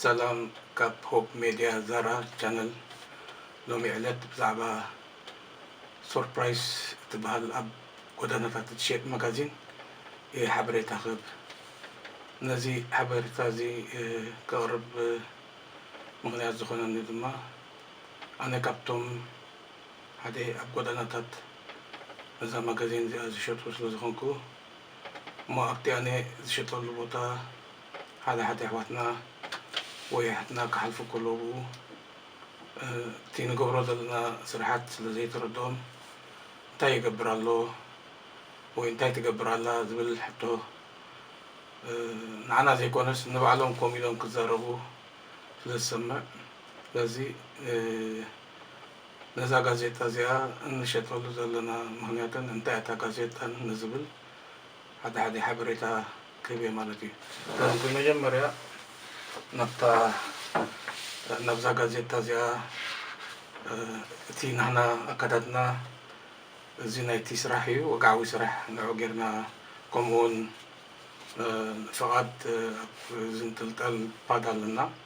ሰላም ካብ ሆፕ ሜድያ ዛራ ቻነል ሎሚ ዕለት ብዛዕባ ሶርፕራይስ እትበሃል ኣብ ጎዳናታት እትሸጥ መጋዚን እየ ሓበሬታ ክህብ ነዚ ሓበሬታ እዚ ከቕርብ ምክንያት ዝኾነኒ ድማ ኣነ ካብቶም ሓደ ኣብ ጎዳናታት ነዛ ማጋዜን እዚኣ ዝሸጡ ስለ ዝኾንኩ እሞ ኣብቲ ኣነ ዝሸጠሉ ቦታ ሓደ ሓደ ኣሕዋትና ወይ ኣሓትና ክሓልፉ ከለዉ እቲ ንገብሮ ዘለና ስርሓት ስለ ዘይተረድኦም እንታይ ይገብር ኣሎ ወይ እንታይ ትገብር ኣላ ዝብል ሕቶ ንዓና ዘይኮነስ ንባዕሎም ኮም ኢሎም ክዛረቡ ስለ ዝሰምዕ ስለዚ ነዛ ጋዜጣ እዚኣ እንሸጠሉ ዘለና ምኽንያትን እንታይ'ያ እታ ጋዜጣን ንዝብል ሓደ ሓደ ሓበሬታ ክህብ'የ ማለት እዩ። ስለዚ ብመጀመርያ ናብታ ናብዛ ጋዜጣ እዚኣ እቲ ናህና ኣካዳድና እዚ ናይቲ ስራሕ እዩ ወግዓዊ ስራሕ ንዑ ጌርና ከምኡ'ውን ፍቓድ ኣብ ዝንጥልጠል ፓድ ኣለና።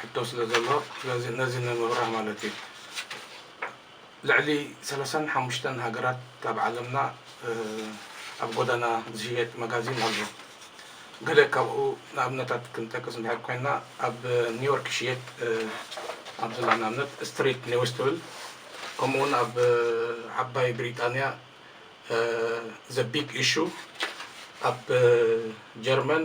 ሕቶ ስለ ዘሎ ስለዚ ነዚ ንምብራህ ማለት እዩ ልዕሊ ሰላሳን ሓሙሽተን ሃገራት ኣብ ዓለምና ኣብ ጎዳና ዝሽየጥ መጋዚን ኣሎ ገለ ካብኡ ንኣብነታት ክንጠቅስ እንድሕር ኮይና ኣብ ኒውዮርክ ይሽየጥ ኣብ ዝላ ንኣብነት ስትሪት ኒውስ ትብል ከምኡ እውን ኣብ ዓባይ ብሪጣንያ ዘ ቢግ ኢሹ ኣብ ጀርመን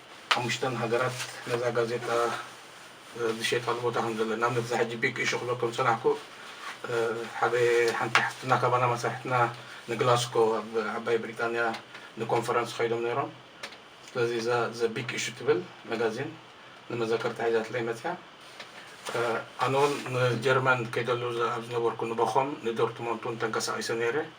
ሓሙሽተን ሃገራት ነዛ ጋዜጣ ዝሸጣሉ ቦታ ከም ዘለን ንኣብነት እዛ ሕጂ ቢግ ኢሹ ክብል ከም ዝጸናሕኩ ሓደ ሓንቲ ሓፍትና ካባና መሳርሕትና ንግላስኮ ኣብ ዓባይ ብሪጣንያ ንኮንፈረንስ ከይዶም ነይሮም ስለዚ እዛ ዘ ቢግ ኢሹ ትብል መጋዚን ንመዘከርታ ሒዛትለይ መጽያ ኣነ ውን ንጀርመን ከይደሉ ኣብ ዝነበርኩ ንበኾም ንዶርትሞንት ውን ተንቀሳቒሰ ነይረ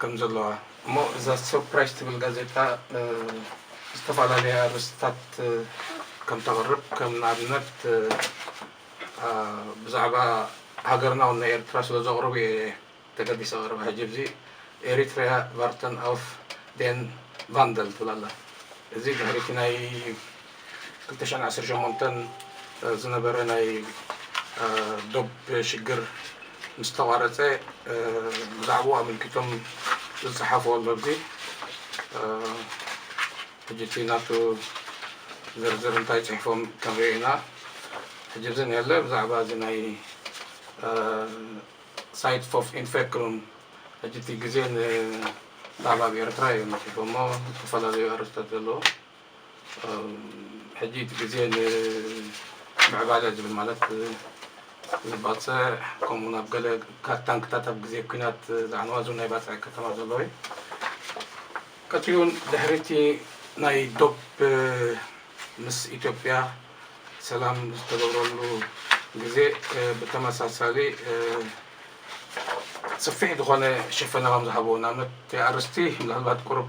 ከም ዘለዋ እሞ እዛ ሰርፕራይዝ ትብል ጋዜጣ ዝተፈላለየ ኣርእስትታት ከም ተቅርብ ከም ንኣብነት ብዛዕባ ሃገርና ወናይ ኤርትራ ስለ ዘቅርቡ ኢየ ተገዲሰ ክቅርባ ሕጂ ኣብዚ Eritrea Världen av den Vandel ትብል ኣላ እዚ ድሕሪ እቲ ናይ ክልተ ሽሕን ዓሰርተ ሸሞንተን ዝነበረ ናይ ዶብ ሽግር ምስ ተቛረጸ ብዛዕብኡ ኣመልኪቶም ዝጸሓፍዎ ኣሎ ኣብዚ ሕጂ እቲ ናቱ ዝርዝር እንታይ ጽሒፎም ክንርኢ ኢና ሕጂ እዚ ንየለ ብዛዕባ እዚ ናይ ሳይት ፎፍ ኢንፌክሩም ሕጂ እቲ ግዜ ንባዕባብ ኤርትራ እዮም ጽሒፎሞ ዝተፈላለዩ ኣርእስታት ዘለዎ ሕጂ እቲ ግዜ ንምዕባለ ዝብል ማለት ንባጽዕ ከምኡ ናብ ገለ ካብ ታንክታት ኣብ ግዜ ኲናት ዝዓነዋ እዞን ናይ ባጽዕ ከተማ ዘለዉ እዩ ቀጺሉ ድሕሪ እቲ ናይ ዶብ ምስ ኢትዮጵያ ሰላም ዝተገብረሉ ግዜ ብተመሳሳሊ ሰፊሕ ዝኾነ ሽፈና ከም ዝሃብዎ ንኣብነት እቲ ኣርስቲ ምናልባት ቁሩብ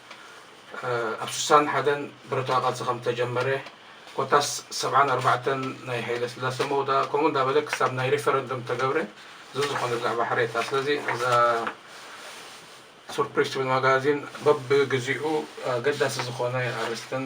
ኣብ ስሳን ሓደን ብረታዊ ቃልሲ ከም እተጀመረ፣ ኮታስ ሰብዓን ኣርባዕተን ናይ ሃይለስላሰ መውዳእ ከምኡ እንዳበለ ክሳብ ናይ ሪፈረንደም እተገብረ ዝዝኾነ ብዛዕባ ሓሬታ ስለዚ እዛ ሱርፕሪስ ትብል ማጋዚን በብግዚኡ ኣገዳሲ ዝኾነ ኣርእስትን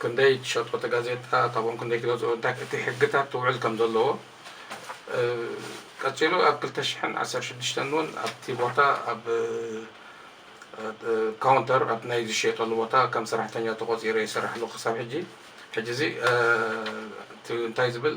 ክንደይ ትሸጦ እቲ ጋዜጣ ካብኦም ክንደይ ትገዝኦ እንታይ እቲ ሕግታት ትውዕል ከም ዘለዎ ቀጺሉ ኣብ ክልተ ሽሕን ዓሰርተ ሽዱሽተን እውን ኣብቲ ቦታ ኣብ ካውንተር ኣብ ናይ ዝሸየጠሉ ቦታ ከም ሰራሕተኛ ተቆጺረ ይሰርሕ ኣለኹ ክሳብ ሕጂ ሕጂ እዚ እንታይ ዝብል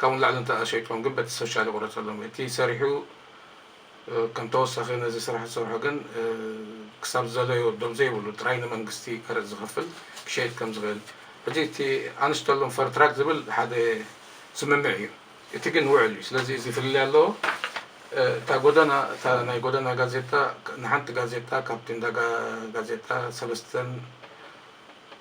ካብኡ ንላዕሊ እንተ ኣሸይጦም ግን በቲ ሶሻል ይቑረጸሎም። እቲ ሰሪሑ ከም ተወሳኺ ነዚ ስራሕ ዝሰርሖ ግን ክሳብ ዝደለዮ ዶብ ዘይብሉ ጥራይ ንመንግስቲ ቀረጽ ዝኸፍል ክሸይጥ ከም ዝኽእል ሕጂ እቲ ኣንስተሎም ፈር ትራክ ዝብል ሓደ ስምምዕ እዩ። እቲ ግን ውዕል እዩ። ስለዚ እዚ ፍልልይ ኣለዎ። እታ ጎደና እታ ናይ ጎደና ጋዜጣ ንሓንቲ ጋዜጣ ካብቲ እንዳ ጋዜጣ ሰለስተን፣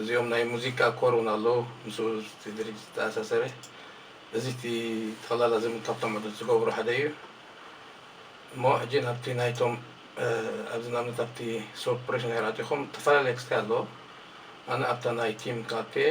እዚኦም ናይ ሙዚቃ ኮር እውን ኣሎ ምስኡ እቲ ድርጅት ዝተኣሳሰረ እዚ እቲ ጠቕላላ ዝም ካብቶም ዕዱት ዝገብሩ ሓደ እዩ እሞ ሕጂ ናብቲ ናይቶም ኣብዚ ናብነት ኣብቲ ሶፕሬሽን ሄር ኣቲኹም ተፈላለየ ክስታይ ኣለዎ ኣነ ኣብታ ናይ ቲም ክኣቱ እየ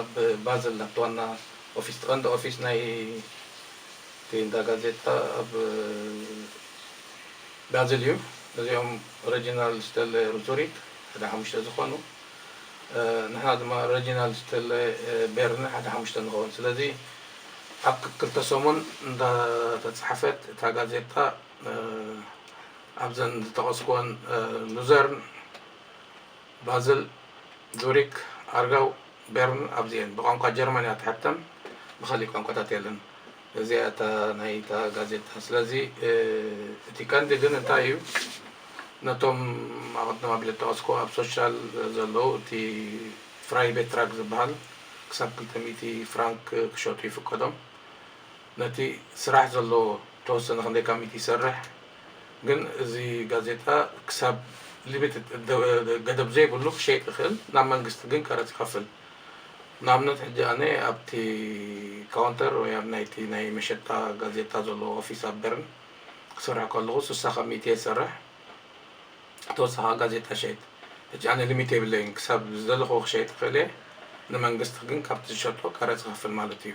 ኣብ ባዝል ናብቲ ዋና ኦፊስ እቲ ቀንዲ ኦፊስ ናይቲ እንዳ ጋዜጣ ኣብ ባዝል እዩ። እዚኦም ረጂናልድ ስተለ ን ዙሪት ሓደ ሓሙሽተ ዝኾኑ ንሕና ድማ ረጂናልድ ስተለ ቤርነ ሓደ ሓሙሽተ ንኸውን። ስለዚ ኣብ ክክልተ ሰሙን እንዳተጻሕፈት እታ ጋዜጣ ኣብዘን ዝተቐስኩወን ሉዘርን፣ ባዝል፣ ዙሪክ፣ ኣርጋው፣ ቤርን ኣብዚ እየን። ብቋንቋ ጀርመን እያ ትሕተም ብኻሊእ ቋንቋታት የለን። እዚኣ እያ እታ ናይ እታ ጋዜጣ። ስለዚ እቲ ቀንዲ ግን እንታይ እዩ ነቶም ኣቐድም ኣቢለ ዝጠቐስኩ ኣብ ሶሻል ዘለዉ እቲ ፍራይቤትራግ ዝበሃል ክሳብ ክልተ ሚእቲ ፍራንክ ክሸጡ ይፍቀዶም። ነቲ ስራሕ ዘለዎ ተወሰነ ክንደይ ካሚቲ ይሰርሕ ግን እዚ ጋዜጣ ክሳብ ሊሚትድ ገደብ ዘይብሉ ክሸይጥ ይክእል ናብ መንግስቲ ግን ቀረጽ ይከፍል ንኣብነት ሕጂ ኣነ ኣብቲ ካውንተር ወይ ኣብ ናይቲ ናይ መሸጣ ጋዜጣ ዘሎ ኦፊስ ኣብ በርን ክሰርሕ ከለኩ ስሳ ካሚቲ እየ ዝሰርሕ ተወሳኪ ከኣ ጋዜጣ ይሸይጥ ሕጂ ኣነ ሊሚት የብለይን ክሳብ ዝደለኩዎ ክሸይጥ ይክእል እየ ንመንግስቲ ግን ካብቲ ዝሸጦ ቀረጽ ይከፍል ማለት እዩ።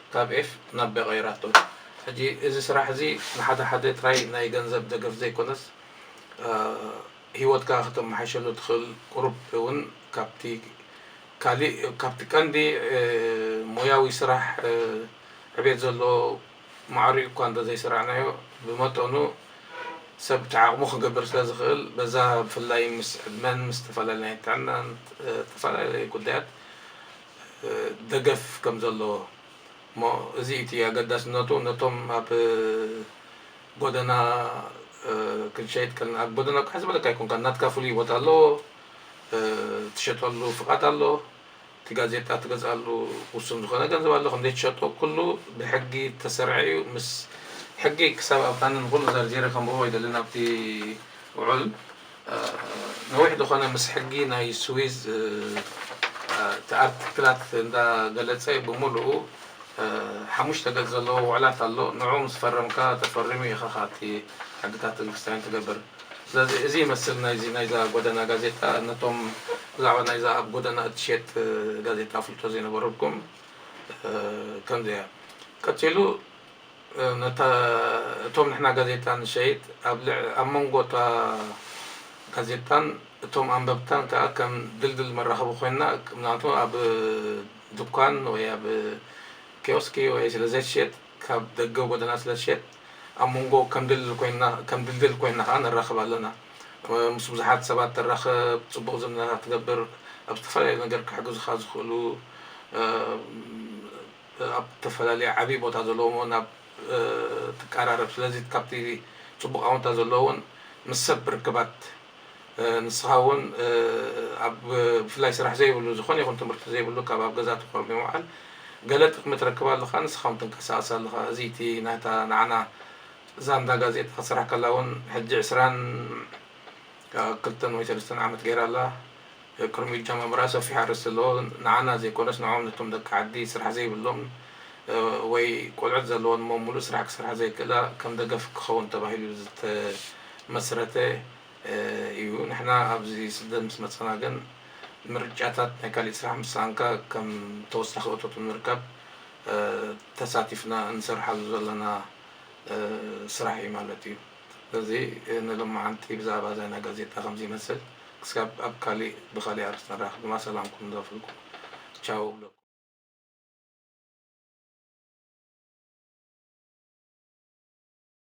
ካብ ኤፍ ናብ ቤ ቀይራቶ። ሕጂ እዚ ስራሕ እዚ ንሓደ ሓደ ጥራይ ናይ ገንዘብ ደገፍ ዘይኮነስ ሂወትካ ከተመሓይሸሉ ትኽእል ቁሩብ ውን ካብቲ ካሊእ ካብቲ ቀንዲ ሞያዊ ስራሕ ዕቤት ዘለዎ ማዕሪኡ እኳ እንተ ዘይሰራዕናዮ ብመጠኑ ሰብ እቲ ዓቕሙ ክገብር ስለ ዝኽእል በዛ ብፍላይ ምስ ዕድመን ምስ ተፈላለናይ ጥዕናን ተፈላለየ ጉዳያት ደገፍ ከም ዘለዎ እሞ እዚ እቲ ኣገዳስነቱ ነቶም ኣብ ጎደና ክንሸይጥ ከለና ኣብ ጎደና ቃሕ ዝበለካ ኣይኮንካን ናትካ ፍሉይ ቦታ ኣለዎ ትሸጠሉ ፍቃድ ኣሎ እቲ ጋዜጣ ትገዝኣሉ ውሱን ዝኾነ ገንዘብ ኣሎ ከምዘይ ትሸጦ ኩሉ ብሕጊ ተሰርዐ እዩ ምስ ሕጊ ክሳብ ኣብታንን ኩሉ ዘርዚረ ከምብቦ ኣይደልን ኣብቲ ውዑል ነዊሕ ዝኾነ ምስ ሕጊ ናይ ስዊዝ እቲ ኣርቲክላት እንዳ ገለጸ ብምሉኡ ሓሙሽተ ገጽ ዘለዎ ውዕላት ኣሎ ንዑ ምስ ፈረምካ ተፈሪሙ ኢኻኻ እቲ ሕግታት እንክስታይን ትገብር ስለዚ እዚ ይመስል ናይዚ ናይዛ ጎደና ጋዜጣ ነቶም ብዛዕባ ናይዛ ኣብ ጎደና እትሸጥ ጋዜጣ ፍልጦ ዘይነበረኩም ከምዚ እያ ቀጺሉ ነታ እቶም ንሕና ጋዜጣ ንሸይጥ ኣብ ልዕ ኣብ መንጎ እታ ጋዜጣን እቶም ኣንበብታን ከኣ ከም ድልድል መራኸቢ ኮይና ምክንያቱ ኣብ ድኳን ወይ ኣብ ኪዮስኪ ወይ ስለ ዘይትሸየጥ ካብ ደገ ጎደና ስለ ትሸየጥ ኣብ መንጎ ከም ድልድል ኮይና ከም ድልድል ኮይና ከኣ ንራኸብ ኣለና ምስ ብዙሓት ሰባት ትራኸብ ጽቡቕ ዝምድናታት ትገብር ኣብ ዝተፈላለዩ ነገር ክሕግዙኻ ዝኽእሉ ኣብ እተፈላለየ ዓብዪ ቦታ ዘለዎም እውን ኣብ እትቀራረብ ስለዚ ካብቲ ጽቡቕ ኣውንታ ዘለዎ እውን ምስ ሰብ ርክባት ንስኻ እውን ኣብ ብፍላይ ስራሕ ዘይብሉ ዝኾነ ይኹን ትምህርቲ ዘይብሉ ካብ ኣብ ገዛ ተኾርምዩ ምውዓል ገለ ጥቕሚ ትረክብ ኣለኻ ንስኻ እውን ትንቀሳቐስ ኣለኻ እዚ እቲ ናታ ንዓና ዛንታ ጋዜጣ ክትሰርሓ ከላ እውን ሕጂ ዕስራን ካብ ክልተን ወይ ሰለስተን ዓመት ጌራ ኣላ ክርሙይ ጃማ ምርኣ ሰፊሕ ኣርእስቲ ኣለዎ ንዓና ዘይኮነስ ንዖኦም ነቶም ደቂ ዓዲ ስራሕ ዘይብሎም ወይ ቆልዑት ዘለወን እሞ ሙሉእ ስራሕ ክሰርሓ ዘይክእላ ከም ደገፍ ክኸውን ተባሂሉ ዝተመስረተ እዩ ንሕና ኣብዚ ስደት ምስ መጻና ግን ምርጫታት ናይ ካሊእ ስራሕ ምስ ሰኣንካ ከም ተወሳኺ እቶት ንምርካብ ተሳቲፍና እንሰርሓሉ ዘለና ስራሕ እዩ ማለት እዩ። እዚ ንሎማዓንቲ ብዛዕባ ዛና ጋዜጣ ከምዚ ይመስል ክሳብ ኣብ ካሊእ ብካሊእ ኣርስቲ ንራክብ ድማ ሰላምኩም ንደፍልኩ ቻው እብለኩም።